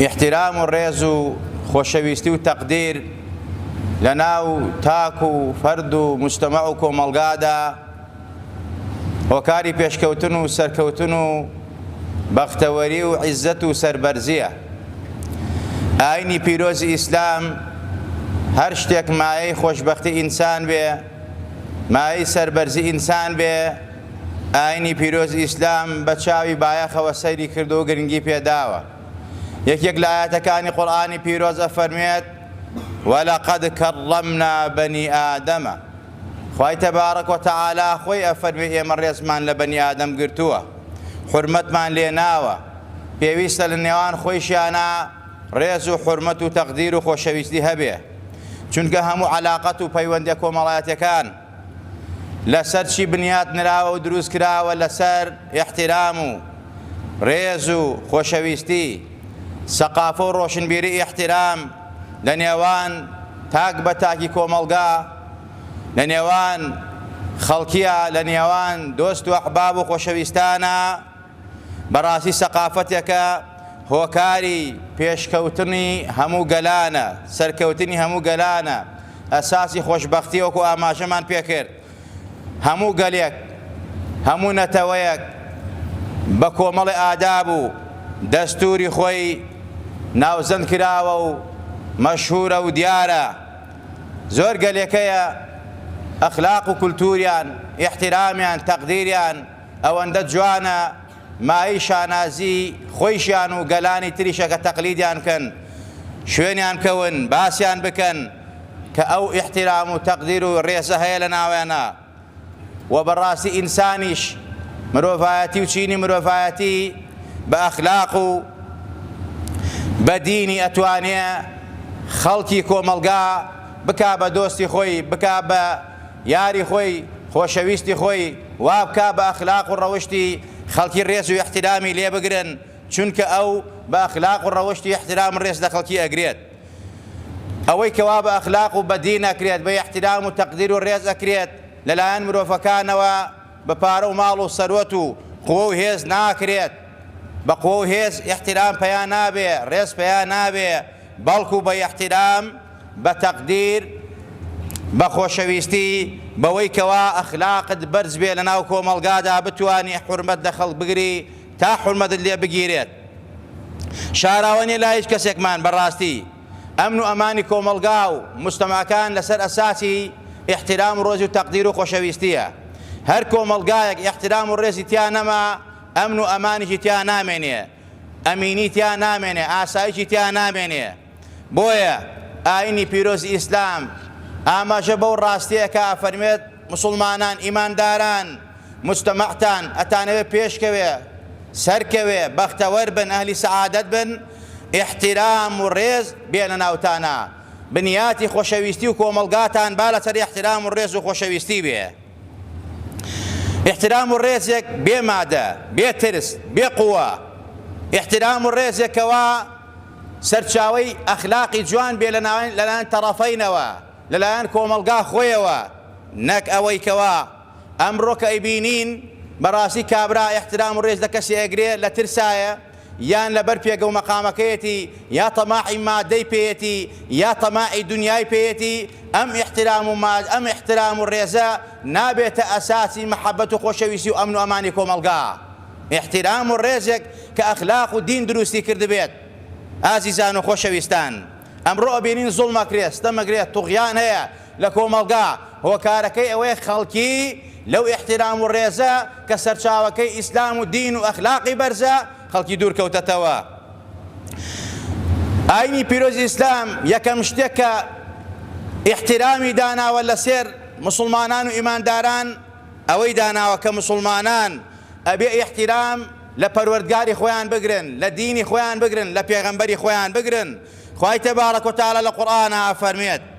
ئیحتیرام و ڕێز و خۆشەویستی و تەقدیر لەناو تاک و فەرد و مجتەمع و کۆمەڵگادا هۆکاری پێشکەوتن و سەرکەوتن و بەختەوەری و عیزەت و سەربەرزیە ئاینی پیرۆزی ئیسلام هەر شتێک مایەی خۆشبەختی ئینسان بێ مایەی سەربەرزی ئینسان بێ، ئاینی پیرۆزی ئیسلام بە چاوی بایەخەوە سەیری کردوە و گرنگی پێداوە. یەکێک لە ئایەتەکانی قورئانی پیرۆز ئەفەرموێت، ولقد کرمنا بنی آدم. خوای تبارک و تعالی خۆی ئەفەرموێ ئێمە ڕێزمان لە بەنی ئادەم گرتووە، حورمەتمان لێناوە، پێویستە لە نێوان خۆیشیانا، ڕێز و حورمەت و تەقدیر و خۆشەویستی هەبێ چونکە هەموو عەلاقەت و پەیوەندیە کۆمەڵایەتیەکان لەسەر چی بنیات نراوە و دروست کراوە لەسەر ئیحتیرام و ڕێز و خۆشەویستی سەقافە و ڕۆشنبیری ئیحتیرام لە نێوان تاک بە تاکی کۆمەڵگا لە نێوان خەڵکیە لە نێوان دۆست و ئەحباب و خۆشەویستانە بەڕاستی سەقافەتێکە هۆکاری پێشکەوتنی هەموو گەلانە، سەرکەوتنی هەموو گەلانە، ئەساسی خۆشبەختیە وەکو ئاماژەمان پێکرد هەموو گەلێک هەموو نەتەوەیەک بە کۆمەڵی ئاداب و دەستوری خۆی ناوزەند کراوە و مەشهورە و دیارە زۆر گەلێک هەیە ئەخلاق و کولتوریان ئیحترامیان تەقدیریان ئەوەندە جوانە مایەی شانازی خۆیشیان و گەلانی تریشە کە تەقلیدیان بکەن شوێنیان بکەون باسیان بکەن کە ئەو ئیحتیرام و تەقدیر و ڕێزە هەیە لە ناویانا و بەڕاستی ئینسانیش مرۆڤایەتی و چینی مرۆڤایەتی بە ئەخلاق و بە دینی ئەتوانێ خەڵکی کۆمەڵگا بکا بە دۆستی خۆی بکا بە یاری خۆی، خۆشەویستی خۆی وابکا بە ئەخلاق و ڕەوشتی خەڵکی ڕێز و ئیحترامی لێ بگرن، چونکە ئەو بە ئەخلاق و ڕەوشت و ئیحترام ڕێز لە خەڵکی ئەگرێت. ئەوەی کەوا بە ئەخلاق و بە دین ئەکرێت، بە ئیحترام و تەقدیر و ڕێز ئەکرێت لە لایەن مرۆڤەکانەوە، بە پارە و ماڵ و سەروەت و قوە و هێز ناکرێت، بە قوە و هێز ئیحترام پەیا نابێ، ڕێز پەیا نابێ، بەڵکو بە ئیحتیرام، بە تەقدیر، بە خۆشەویستی، بەوەی کەوا ئەخلاقت بەرز بێ لەناو کۆمەڵگادا بتوانی حورمەت لە خەڵک بگری تا حورمەتت لێ بگیرێت. شاراوە نیە لای هیچ کەسێکمان بەڕاستی ئەمن و ئەمانی کۆمەڵگا و موجتەماکان لەسەر ئەساسی ئیحتیرام و ڕێز و تەقدیر و خۆشەویستیە. هەر کۆمەڵگایەک ئیحتیرام و ڕێزی تیا نەما ئەمن و ئەمانیشی تیا نامێنێ. ئەمینی تیا نامێنێ ئاسایشی تیا نامێنێ بۆیە ئاینی پیرۆزی ئیسلام ئاماژە بەو ڕاستیەکە ئەفەرمێت مسوڵمانان ئیمانداران مجتەمەعتان ئەتانەوێ پێشکەوێ سەرکەوێ بەختەوەر بن ئەهلی سەعادەت بن احترام و ڕێز بێنە ناوتانە بنیاتی خۆشەویستی و کۆمەڵگاتان با لەسەر احترام و ڕێز و خۆشەویستی بێ ئیحترام و ڕێزێک بێ مادە، بێ ترس، بێ قوە. ئیحترام و ڕێزێک کە وا سەرچاوەی ئەخلاقی جوان بێ لەلایەن تەڕەفەینەوە، لەلایەن کۆمەڵگا خۆیەوە. نەک ئەوەی کەوا ئەمڕۆ کە ئەیبینین بەڕاستی کابرا ئیحترام و ڕێز لە کەسێ ئەگرێ لە ترسایە، یان لەبەر پێگە و مەقامەکەیەتی یا تەماعی ماددەی پێیەتی یا تەماعی دونیای پێیەتی، ئەم ئیحترام و ماد ئەم ئیحترام و ڕێزە نابێتە ئەساسی مەحەبەت و خۆشەویستی و ئەمن و ئەمانی کۆمەڵگا. ئیحترام و ڕێزێک کە ئەخلاق و دین دروستی کردبێت. ئازیزان و خۆشەویستان، ئەمڕۆ ئەبینین زوڵم ئەکرێت، ستەم ئەکرێت، طغیان هەیە، لە کۆمەڵگا، هۆکارەکەی ئەوەیە خەڵکی لەو ئیحتیرام و ڕێزە کە سەرچاوەکەی ئیسلام و دین و ئەخلاقی بەرزە، خەڵکی دوور کەوتەتەوە. ئاینی پیرۆزی ئیسلام یەکەم شتێک کە ئیحتیرامی داناوە لە سێر موسڵمانان و ئیمانداران ئەوەی داناوە کە موسڵمانان ئەبێ ئیحتیرام لە پەروەردگاری خۆیان بگرن، لە دینی خۆیان بگرن، لە پێغەمبەری خۆیان بگرن. خوای تبارک و تعالی لە قورئانا ئەفەرموێت.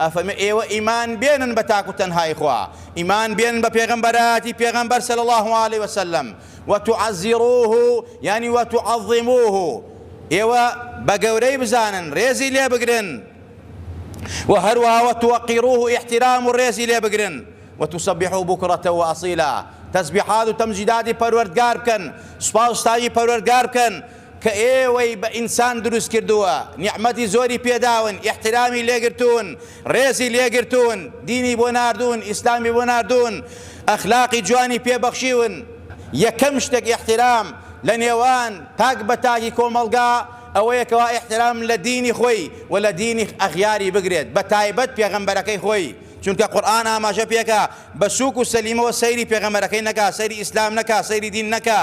ئەفەرمێ ئێوە ئیمان بێنن بە تاک و تەنهای خوا، ئیمان بێنن بە پێغەمبەرایەتی پێغەمبەر صلی اللە علیە وسلم، وتعزروه یانی وتعظموه ئێوە بە گەورەی بزانن رێزی لێ بگرن، وە هەروەها وتوقروه ئیحترام و رێزی لێ بگرن، وتسبحوه بکرە واسیلا تەسبیحات و تەمجیداتی پەروەردگار بکەن، سوپاس و ستایشی پەروەردگار بکەن، کە ئێوەی بە ئینسان دروست کردووە نیعمەتی زۆری پێداون ئیحترامی لێگرتوون ڕێزی لێگرتوون دینی بۆ ناردوون ئیسلامی بۆ ناردوون ئەخلاقی جوانی پێ بەخشیون یەکەم شتێک ئیحترام لە نێوان تاک بە تاکی کۆمەڵگا ئەوەیە کەوا ئیحترام لە دینی خۆی و لە دینی ئەغیاری بگرێت بە تایبەت پێغەمبەرەکەی خۆی چونکە قورئان ئاماژە پێکا بە سووک و سەلیمەوە سەیری پێغەمبەرەکەی نەکا سەیری ئیسلام نەکا سەیری دین نەکا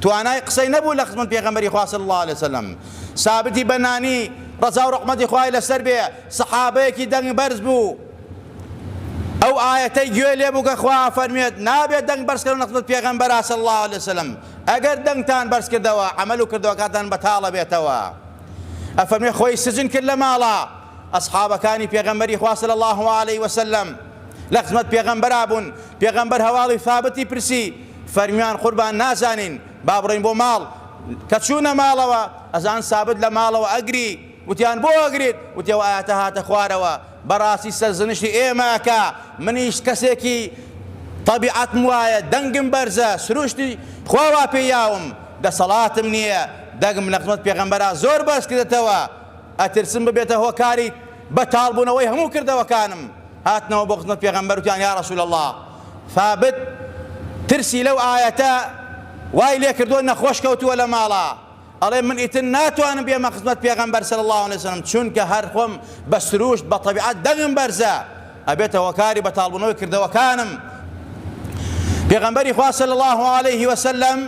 توانای قسەی نەبوو لە خزمەت پێغەمبەری خوا صلی اللە علیە وسلم سابتی بەنانی ڕەزا و ڕەحمەتی خوای لەسەر بێ سەحابەیەکی دەنگ بەرز بوو ئەو ئاەتەی گوێ لێ بوو کە خوا فەرمێت نابێت دەنگ بەرزکردن لە خزمەت پێغەمبەرا صلی اللە علیە وسلم ئەگەر دەنگتان بەرز کردەوە عمل و کردەوەکاتان بەتاڵە بێتەوە ئەفەرمێ خۆی سجن کرد لە ماڵە ئەسحابەکانی پێغەمبەری خوا صلی الله علیه وسلم لە خزمەت پێغەمبەرا بوون پێغەمبەر هەواڵی ثابتی پرسی فەرمیان قوربان نازانین با بڕۆین بۆ ماڵ کە چوونە ماڵەوە ئەزان سابت لە ماڵەوە ئەگری وتیان بۆ ئەگریت وتی ئەو ئایەتە هاتە خوارەوە بەڕاستی سەرزنشتی ئێمە ئەکا منیش کەسێکی تەبیعەتم وایە دەنگم بەرزە سروشتی خوا وا پێ یاوم دەسەڵاتم نییە دەگم لە خزمەت پێغەمبەرا زۆر بەرز کردەتەوە ئەترسم ببێتە هۆکاری بەتاڵبوونەوەی هەموو کردەوەکانم هاتنەوە بۆ خزمەت پێغەمبەر وتیان یا رسول اللە ثابت ترسی لەو ئایەتە وای لێکردووە نەخۆش کەوتووە لە ماڵا ئەڵێ من ئیتر ناتوانم بێمە خزمەت پێغەمبەر صلی اللە علیە وسلم چونکە هەر خۆم بە سروشت بە طەبیعەت دەنگم بەرزە ئەبێتە هۆکاری بەتاڵبوونەوەی کردەوەکانم پێغەمبەری خوا صلی اللە علیه وسلم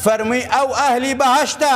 فەرمووی ئەو ئەهلی بەهەشتە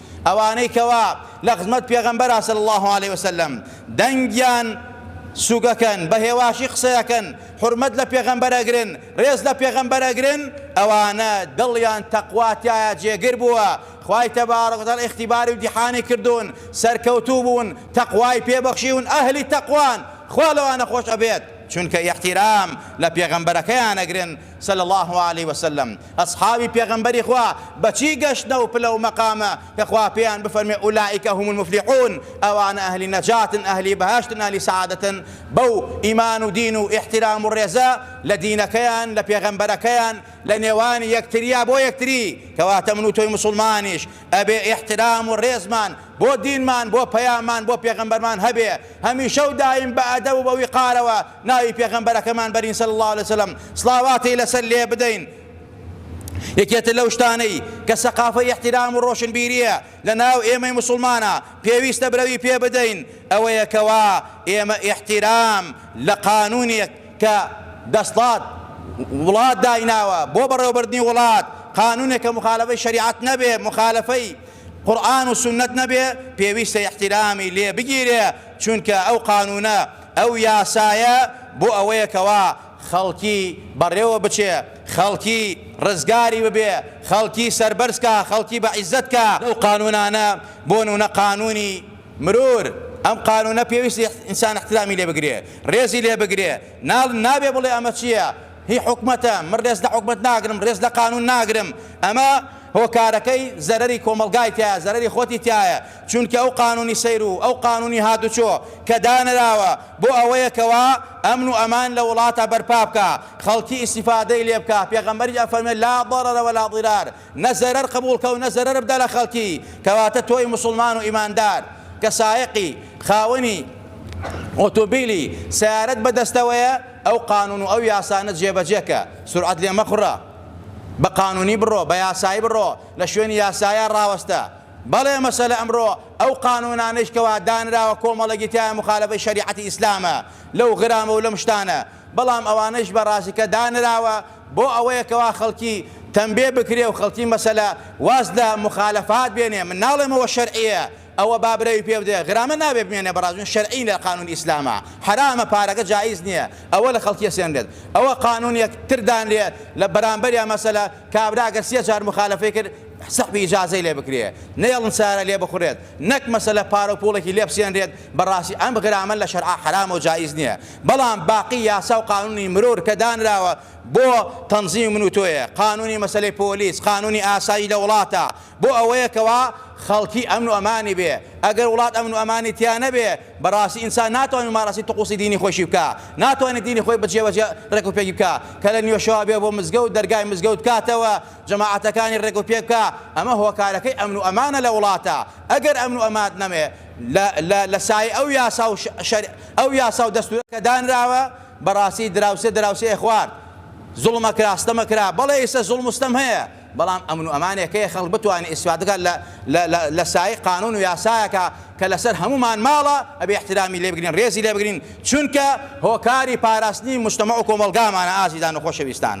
ئەوانەی کەوا لەخزمەت پێغەمبەرا صلی اللە علیە وسلم دەنگیان سوگەکەن بە هێواشی قسەیەکەن حرمەت لە پێغەمبەر ئەگرن ڕێز لە پێغەمبەر ئەگرن ئەوانە دڵیان تەقواتایە جێگر بووە خی تەبارڕگەتان ئختیباری و دیحانی کردوون سەرکەوتوو بوون تەقوای پێبەخشیون ئەهلی تەقوان خوا لەوانە خۆش ئەبێت چونکە یەحتیرام لە پێغەمبەرەکەیان ئەگرن صلی اللە علیە وسلم، ئەسحابی پێغەمبەری خوا بەچی گەشتنە ئەو پلە و مەقامە کە خوا پێیان بفەرموێ اولئک هم المفلحون ئەوانە ئەهلی نەجاتن ئەهلی بەهەشتن ئەهلی سەعادەتن بەو ئیمان و دین و ئیحتیرام و ڕێزە لە دینەکەیان لە پێغەمبەرەکەیان لە نێوانی یەکتریا بۆ یەکتری کەواتە من و تۆی موسوڵمانیش ئەبێ ئیحتیرام و ڕێزمان بۆ دینمان بۆ پەیاممان بۆ پێغەمبەرمان هەبێ هەمیشە و دایم بە ئەدەب و بە ویقارەوە ناوی پێغەمبەرەکەمان بەرین صلی اللە علیە وسلم سڵاواتی لەسەر لێ بدەین یەکێتر لەو شتانەی کە سەقافەی احترام و ڕۆشنبیریە لە ناو ئێمەی موسڵمانە پێویستە برەوی پێ بدەین ئەوەیە کەوا ئێمە احترام لە قانونێک کە دەسڵات وڵات دایناوە بۆ بەڕێوەبردنی وڵات قانونێک کە مخالفەی شریعەت نەبێ مخالفەی قورآن و سنت نەبێ پێویستە احترامی لێ بگیرێ چونکە ئەو قانونە ئەو یاسایە بۆ ئەوەیە کەوا خەڵکی بەڕێوە بچێ، خەڵکی ڕزگاری ببێ، خەڵکی سەربەرز کا، خەڵکی بە عیزەت کا. ئەو قانوونانە بۆ نوونە قانوونی مرور، ئەم قانوونە پێویستە ئینسان ئیحترامی لێ بگرێ، ڕێزی لێ بگرێ، نا نابێ بڵێ ئەمە چییە؟ هی حکومەتە، من ڕێز لە حکومەت ناگرم، ڕێز لە قانوون ناگرم، ئەمە هۆکارەکەی زەرەری کۆمەڵگای تیایە، زەرەری خۆتی تیایە، چونکە ئەو قانونی سەیر و ئەو قانونی هاتوچۆ کە دانراوە بۆ ئەوەیە کەوا ئەمن و ئەمان لە وڵاتا بەرپا بکا خەڵکی ئیستیفادەی لێ بکا پێغەمبەریش ئەفەرموێ لا ضرر ولا ضرار نە زەرەر قبوڵ کەو نە زەرەر بدە لە خەڵکی کەواتە تۆی موسڵمان و ئیماندار کە سایەقی خاوەنی ئۆتۆبیلی سەیارەت بە دەستەوەیە ئەو قانون و ئەو یاسانە جێبەجێ کە سورعەت لێ مەخوڕە بە قانونی بڕۆ بە یاسایی بڕۆ لە شوێنی یاسایە ڕاوەستە بەڵێ مەسەلە ئەمڕۆ ئەو قانوونانەیش کەوا دانراوە کۆمەڵێکی تیایان موخالەفەی شەریعەتی ئیسلامە لەو غرامە و لەم شتانە بەڵام ئەوانەیش بە ڕاستی کە دانراوە بۆ ئەوەیە کەوا خەڵکی تەمبێ بکرێ و خەڵکی مەسەلە واز لە موخالەفات بێنێ من ناڵێم ئەوە شەرعیە ئەوە با برەوی پێ بدرێ غرامە نابێ بمێنێ بە ڕاست شەرعی لە قانوونی ئیسلامە حەرامە پارەکە جائیز نیە ئەوە لە خەڵکی سێنرێت ئەوە قانوونێک تر دانرێ لە بەرامبەریا مەسەلە کابرا گەر سێ جار موخالەفەی کرد سەخت بی ئیجازەی لێ بکرێ نەیەڵن سەیارە لێ بخورێت نەک مەسەلە پارە و پوڵێکی لێ بسێنرێت بەڕاستی ئەم غرامە لە شەرعا حەرامە و جائیز نیە بەڵام باقی یاسا و قانونی مرور کە دانراوە بۆ تەنزیمی من و تۆیە قانونی مەسەلەی پۆلیس قانونی ئاسایی لە وڵاتە بۆ ئەوەیە کەوا خەڵکی ئەمن و ئەمانی بێ ئەگەر وڵات ئەمن و ئەمانی تیا نەبێ بەڕاستی ئینسان ناتوانێ ممارەسەی تقوسی دینی خۆیشی بکا ناتوانێ دینی خۆی بە جێ بەجێ ڕێکوپێکی بکا کە لە نیوەشەوا بێ بۆ مزگەوت دەرگای مزگەوت بکاتەوە جەماعەتەکانی ڕێک و پێک بکا ئەمە هۆکارەکەی ئەمن و ئەمانە لە وڵاتە ئەگەر ئەمن و ئەمات نەمێ لە لە لە سایەی ئەو یاسا و شەر ئەو یاسا و دەستورە کە دانراوە بەڕاستی دراوسێ دراوسێ خوارد زوڵمە کرا ستەمە کرا بەڵێ ئیسە زوڵم و ستەم هەیە بەڵام ئەمن و ئەمانێک هەیە خەڵک بتوانێ ئیسفادە بکا لە لە لە لە سایەی قانون و یاسایەکە کە لەسەر هەموومان ماڵە ئەبێ ئیحترامی لێ بگرین ڕێزی لێ بگرین چونکە هۆکاری پاراستنی مجتەمەع و کۆمەڵگامانە ئازیزان و خۆشەویستان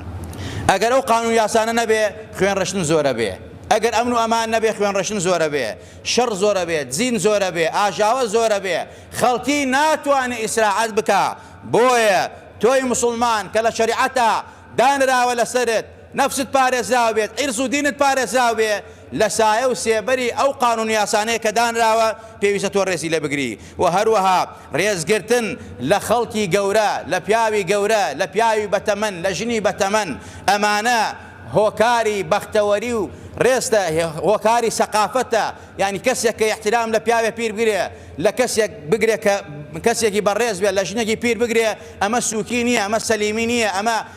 ئەگەر ئەو قانون یاسانە نەبێ خوێن ڕشتن زۆرەبێ ئەگەر ئەمن و ئەمان نەبێ خوێن ڕشتن زۆرەبێ شەڕ زۆرەبێ زین زۆرەبێ ئاژاوە زۆرەبێ خەڵکی ناتوانێ ئیسراعەت بکا بۆیە تۆی مسوڵمان کە لە شەریعەتا دانراوە لەسەرت نەفست پارێزراو بێت، عیرز و دینت پارێزراو بێ، لە سایە و سێبەری ئەو قانون و یاسانەی کە دانراوە پێویستە تۆ رێزی لێ بگری و هەروەها رێزگرتن لە خەڵکی گەورە، لە پیاوی گەورە، لە پیاوی بەتەمەن، لە ژنی بەتەمەن، ئەمانە هۆکاری بەختەوەری و رێزتە، هۆکاری سەقافەتە، یانی کەسێک کە ئیحتیرام لە پیاوێ پیر بگرێ، لە کەسێک بگرێ کە کەسێکی بەڕێز بێ، لە ژنێکی پیر بگرێ، ئەمە سوکی نییە، ئەمە سەلیمی نییە، ئەمە.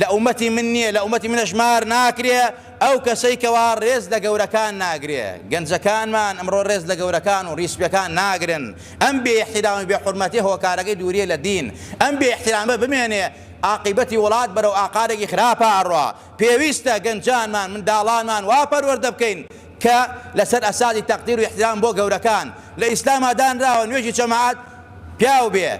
لە ئومەتی من نیە لە ئومەتی منە ژمار ناکرێ ئەو کەسەی کەوا ڕێز لە گەورەکان ناگرێ گەنجەکانمان ئەمڕۆ ڕێز لە گەورەکان و ڕیسپێکان ناگرن ئەم بێ ئیحتیرام و بێ حورمەتیە هۆکارەکەی دووریە لە دین ئەم بێ ئیحتیرامە بمێنێ ئاقیبەتی وڵات بەرەو ئاقارێکی خراپە ئەڕوا پێویستە گەنجانمان منداڵانمان وا پەروەردە بکەین کە لەسەر ئەساسی تەقدیر و ئیحتیرام بۆ گەورەکان لە ئیسلاما دانراوە نوێژی جەماعەت پیاو بێ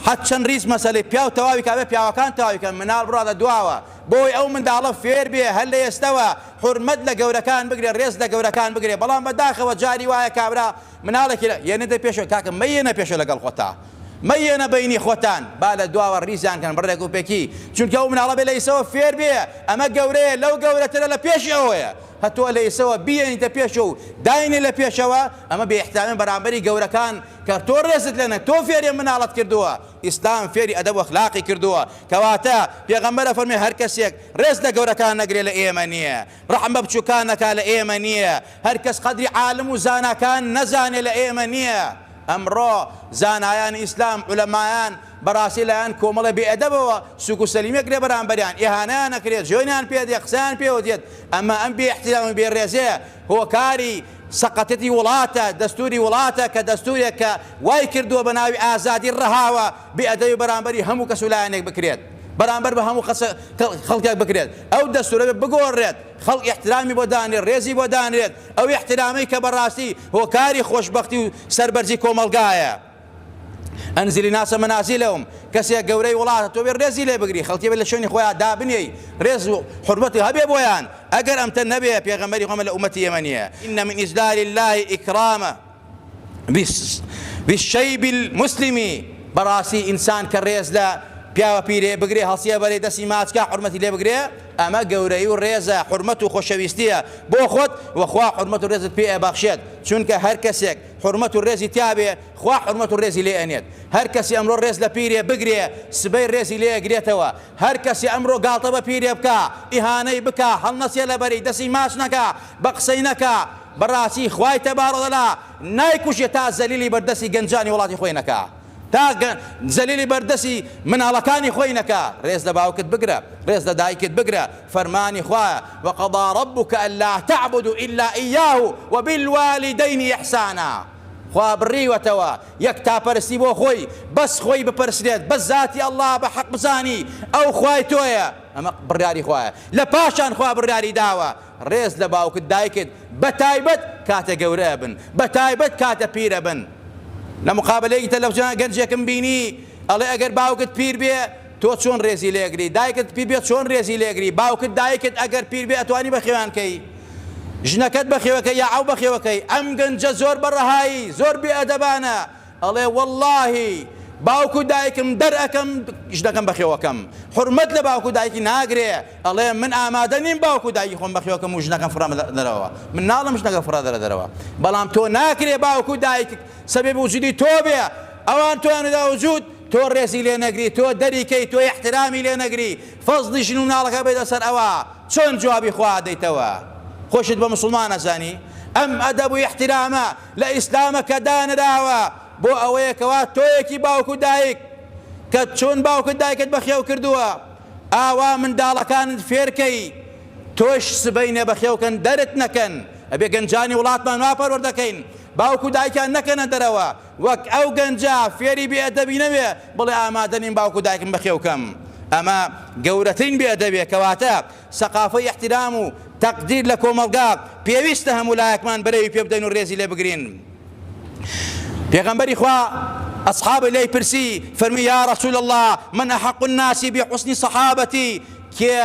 حەد چەند ریز مەسەلەی پیاو تەواوی کابێ پیاوەکان تەواوی کەن مناڵ بڕاتە دواوە بۆی ئەو منداڵە فێر بێ هەر لە ئێستەوە حورمەت لە گەورەکان بگرێ رێز لە گەورەکان بگرێ بەڵام بە داخەوە جاری وایە کابرا مناڵێکی لە یەنێتە پێشەوە کاکە مە یەنە پێشەوە لەگەڵ خۆتا مە یەنە بەینی خۆتان با لە دواوە ریزیان کەن بڕێک و پێکی چونکە ئەو مناڵە بێ لە ئیسەوە فێر بێ ئەمە گەورەیە لەو گەورەترە لە پێشی ئەوەیە هە تۆ لە ئیسەوە بیێنیتە پێشەوە و داینێ لە پێشەوە ئەمە بێ احترامی بەرامبەری گەورەکان کە تۆ رێزت لێ نە تۆ فێری مناڵت کردووە ئیسلام فێری ئەدەب و اخلاقی کردووە کەواتە پێغەمبەر ئەفەرموێ هەر کەسێک رێز لە گەورەکان نەگرێ لە ئێمە نیە رەحم بە بچوکان نەکا لە ئێمە نیە هەر کەس قەدری عالم و زاناکان نەزانێ لە ئێمە نیە ئەمڕۆ زانایانی ئیسلام علمایان بەڕاستی لایەن کۆمەڵە بێ ئەدەبەوە سوک و سەلیمێک لە بەرامبەریان ئیهانەیان ئەکرێت جوێنیان پێ دێت قسەیان پێوە دێت ئەمە ئەم بێ ئیحترام و بێ ڕێزێە هۆکاری سەقەتێتی وڵاتە دەستوری وڵاتە کە دەستورێک کە وای کردوە بە ناوی ئازادی ڕەهاوە بێ ئەدەبی بەرامبەری هەموو کەس و لایەنێک بکرێت بەرامبەر بە هەموو قەسە خەڵکێک بکرێت ئەو دەستورە بێت بگۆڕرێت خەڵک ئیحترامی بۆ دانرێت ڕێزی بۆ دانرێت ئەو ئیحترامەی کە بەڕاستی هۆکاری خۆشبەختی و سەربەرزی کۆمەڵگایە. ئەنزلی ناسە مەنازیلەوم کەسێ گەورەی وڵاتە تۆ بێ ڕێزی لێ بگری خەڵکی بێ لە شوێنی خۆیان دابنێی ڕێز و حورمەتی هەبێ بۆیان ئەگەر ئەمتە نەبێ پێغەمبەری خۆمە لە ئومەتی ئێمە نییە ئینە من ئیزلال الله ئیکرامە بالشیب المسلمی بەڕاستی ئینسان کە ڕێز لە پیاوە پیرێ بگرێ هەڵسیە بەرەی دەستی ماچکە حرمەتی لێ بگرێ ئەمە گەورەی و ڕێزە حرمەت و خۆشەویستیە بۆ خۆت وەخوا حرمەت و ڕێزت پێ بەخشێت چونکە هەر کەسێک حورمەت و ڕێزی تیابێ خوا حورمەت و ڕێزی لێ ئەنێت هەر کەسی ئەمڕۆ ڕێز لە پیرێ بگرێ سبەی ڕێزی لێ ئەگرێتەوە هەر کەسی ئەمڕۆ گاڵتە بە پیرێ بکا ئیهانەی بکا هەڵنەسێ لە بەری دەسی ماچ نەکا بە قسەی نەکا بەڕاستی خوای تەبارە و تەعالا نایکوژێ تا زەلیلی بەر دەسی گەنجانی وڵاتی خۆی نەکا تا زەلیلی بەر دەسی مناڵەکانی خۆی نەکا ڕێز لە باوکت بگرە ڕێز لە دایکت بگرە فەرمانی خوایە، وقضی ربک الا تعبدوا الا ایاه وبالوالدین احسانا، خوا بڕیوەتەوە یەکتاپەرستی بۆ خۆی، بەس خۆی بپەرسترێت، بەس زاتی اللە بە حەق بزانی ئەو خوای تۆیە، ئەمە بڕیاری خوایە، لە پاشان خوا بڕیاری داوە رێز لە باوکت دایکت بە تایبەت کاتێ گەورە ئەبن، بە تایبەت کاتە پیر ئەبن، لە مقابەلەیەکی تەلەفزیۆنا گەنجێکم بینی ئەڵێ ئەگەر باوکت پیر بێ تۆ چۆن رێزی لێگری دایکت پیربێت چۆن رێزی لێگری باوکت دایکت ئەگەر پیربێ ئەتوانی بەخێویان کەی ژنەکەت بەخێوەکە یا ئەو بەخێوەکەی ئەم گەنجە زۆر بەڕەهایی زۆر بێ ئەدەبانە ئەڵێ واللهی باوک و دایکم دەرەکەم ژنەکەم بەخێوەکەم حرمەت لە باوک و دایکی ناگرێ ئەڵێ من ئامادە نیم باوک و دایکی خۆم بەخێوەکەم و ژنەکەم فڕە دەرەوە من ناڵم ژنەکە فڕە دەرە دەرەوە بەڵام تۆ ناکرێ باوک و دایک سەبێ بوجودی تۆ بێ ئەوان تۆیان دا وجود تۆ ڕێزی لێ نەگری تۆ دەری کەی تۆ ئیحترامی لێ نەگری فەزڵی ژن و مناڵەکە بێتە سەر ئەوا چۆن جوابی خوا ئەدەیتەوە خۆشت بە موسڵمان ئەزانی ئەم ئەدەب و ئیحترامە لە ئیسلامە کە دانراوە بۆ ئەوەیە کەوا تۆیەکی باوک و دایک کە چۆن باوکت دایکت بەخێو کردووە ئاوا منداڵەکانت فێرکەی تۆش سبەینێ بەخێوکەن دەرت نەکەن ئەبێ گەنجانی وڵاتمان وا پەروەردەکەین باوک و دایکیان نەکەنە دەرەوە وەک ئەو گەنجە فێری بێ ئەدەبی نەبێ بڵێ ئامادە نیم باوک و دایکم بەخێو کەم. ئەمە گەورەترین بێ ئەدەبیە کەواتە سەقافەی ئیحتیرام و تەقدیر لە کۆمەڵگا پێویستە هەموو لایەکمان بەرێوی پێ بدەین و رێزی لێ بگرین. پێغەمبەری خوا ئەسحابەی لێی پرسی فەرمی یا رسول اللە من احق الناس بحسن صحابتی کێ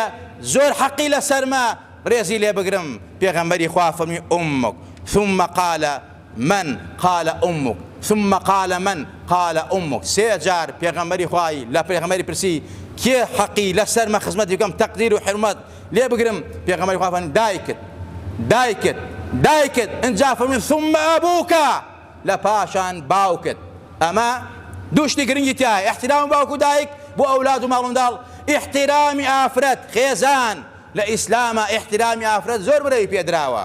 زۆر حەقی لەسەرمە رێزی لێ بگرم پێغەمبەری خوا فەرمی امک ثم قال من، قال امک، ثم قال من، قال امک، سێ جار پێغەمبەری خوا لە پێغەمبەری پرسی کێ حەقی لە سەرمە خزمەتی بکەم تەقدیر و حورمەت لێ بگرم پێغەمبەری خوا فەرمووی دایکت دایکت دایکت ئینجا فەرمووی ثم ابوک لە پاشان باوکت ئەمە دوو شتی گرنگی تیایە احترام باوک و دایک بۆ ئەولاد و ماڵ منداڵ احترامی ئافرەت خێزان لە ئیسلامە احترامی ئافرەت زۆر برەوی پێدراوە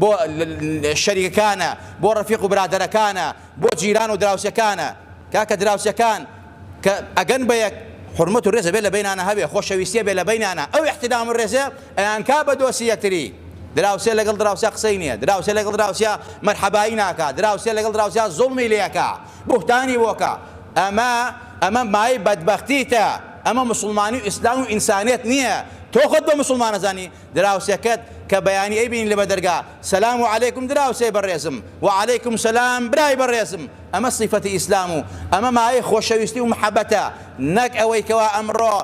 بۆ شەریکەکانە، بۆ ڕەفیق و برادەرەکانە، بۆ جیران و دراوسێکانە. کاکە دراوسێکان کە ئەگەن بە یەک، حورمەت و ڕێز ئەبێ لە بەینانا هەبێ، خۆشەویستی ئەبێ لە بەینانا، ئەو ئیحتیرام و ڕێزە ئەیانکا بە دۆستی یەکتری. دراوسێ لەگەڵ دراوسێ قسەی نییە، دراوسێ لەگەڵ دراوسێ مەرحەبایی ناکا، دراوسێ لەگەڵ دراوسێ زوڵمی لێ ئەکا، بوهتانی بۆ ئەکا. ئەمە، ئەمە مایەی بەدبەختیتە، ئەمە موسڵمانی و ئیسلام و ئینسانیەت نییە. تۆ خۆت بە موسڵمان ئەزانی؟ دراوسێکەت کە بەیانی ئەیبینی لە بەدەرگا، سلام و علیکم دراوسێ بەڕێزم، و علیکم سلام برای بەڕێزم، ئەمە سیفەتی ئیسلام و ئەمە مایەی خۆشەویستی و محەبەتە، نەک ئەوەی کەوا ئەمڕۆ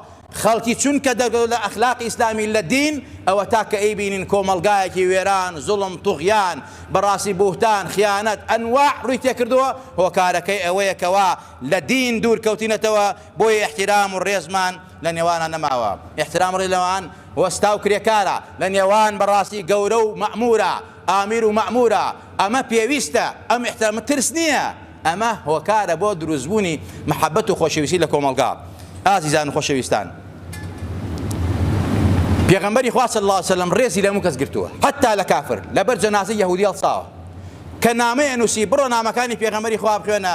خەڵکی چونکە دەرکەوت لە ئەخلاقی ئیسلامی لە دین ئەوەتا کە ئەیبینین کۆمەڵگایەکی وێران، زوڵم، طوغیان، بەڕاستی بوهتان، خیانەت، ئەنواع ڕووی تێکردووە، هۆکارەکەی ئەوەیە کەوا لە دین دوورکەوتینەتەوە، بۆیە ئیحتیرام و ڕێزمان. لە نێوانان نەماوە ئیحترام ڕێ لەوان وەستا و کرێکارە لە نێوان بەڕاستی گەورە و مەئموورە ئامیر و مەئموورە ئەمە پێویستە ئەم ئیحترامە ترس نییە ئەمە هۆکارە بۆ دروست بوونی مەحەبەت و خۆشەویستی لە کۆمەڵگا ئازیزان و خۆشەویستان پێغەمبەری خوا صلی الله علیه و سلم ڕێزی لەمو کەس گرتووە حتا لە کافر لەبەر جەنازەی یەهودی هەڵساوە کە نامەیە نووسی بڕۆ نامەکانی پێغەمبەری خوا بخوێنە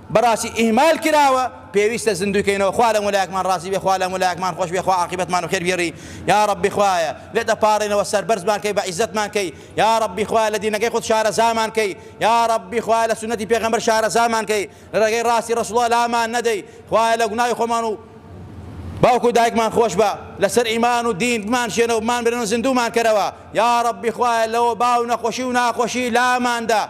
بەڕاستی ئیهمال کراوە پێویستە زیندووی کەینەوە خوا لەمو لایەکمان ڕازی بێ خوا لەمو لایەکمان خۆش بێ خوا عاقیبەتمان بەخێر بگێڕی یاڕەبی خوایە لێت ئەپاڕێنەوە سەربەرزمان کەی بە عیزەتمان کەی یاڕەبی خوایە لە دینەکەی خۆت شارەزامان کەی یاڕەبی خوایە لە سوننەتی پێغەمبەر شارەزامان کەی لە ڕێگەی ڕاستی ڕەسوڵا لامان نەدەی خوایە لە گوناوی خۆمان و باوک و دایکمان خۆش بە لەسەر ئیمان و دین بمان شێنە و بمان برن و زیندوومان کەرەوە یاڕەبی خوایە لەوە باو نەخۆشی و ناخۆشی لاماندا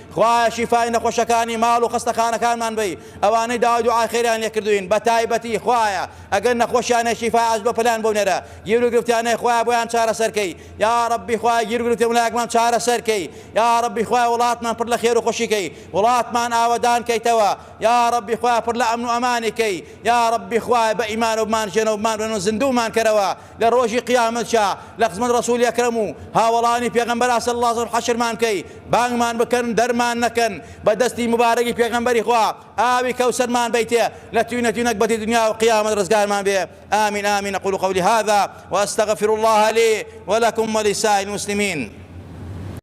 خوایە شیفای نەخۆشەکانی ماڵ و خەستەخانەکانمان بەی ئەوانەی داوای دوعای خێریان لێ کردووین بەتایبەتی خوایە ئەگەر نەخۆشیان هەیە شیفای عاجل بۆ پەلیان بۆ بنێرە گیر و گرفتیان هەیە خوایە بۆیان چارەسەر کەی یاڕەبی خوایە گیر و گرفتی ملایەکمان چارەسەر کەی یاڕەبی خوایە وڵاتمان پڕ لە خێر و خۆشی کەی وڵاتمان ئاوەدان کەیتەوە یاڕەبی خوایە پڕ لە ئەمن و ئەمانی کەی یاڕەبی خوایە بە ئیمانەوە بمان ژێنەوە بمان بنێن و زیندوومان کەرەوە لە ڕۆژی قیامەتشا لە خزمەت ڕەسولی ئەکرەم و هاوەڵانی پێغەمبەر ئاسە اللە سەر حەشرمان بکەی بانگمان بکەن دەرمان نەکەن بە دەستی موبارەکی پێغەمبەری خوا ئاوی کەوسەرمان بەیتێ لە توینە توی نەگبەتی دنیا و قیامەت ڕزگارمان بێ آمین آمین اقول قولی هذا واستغفر اللە لی ولکم ولسائر المسلمین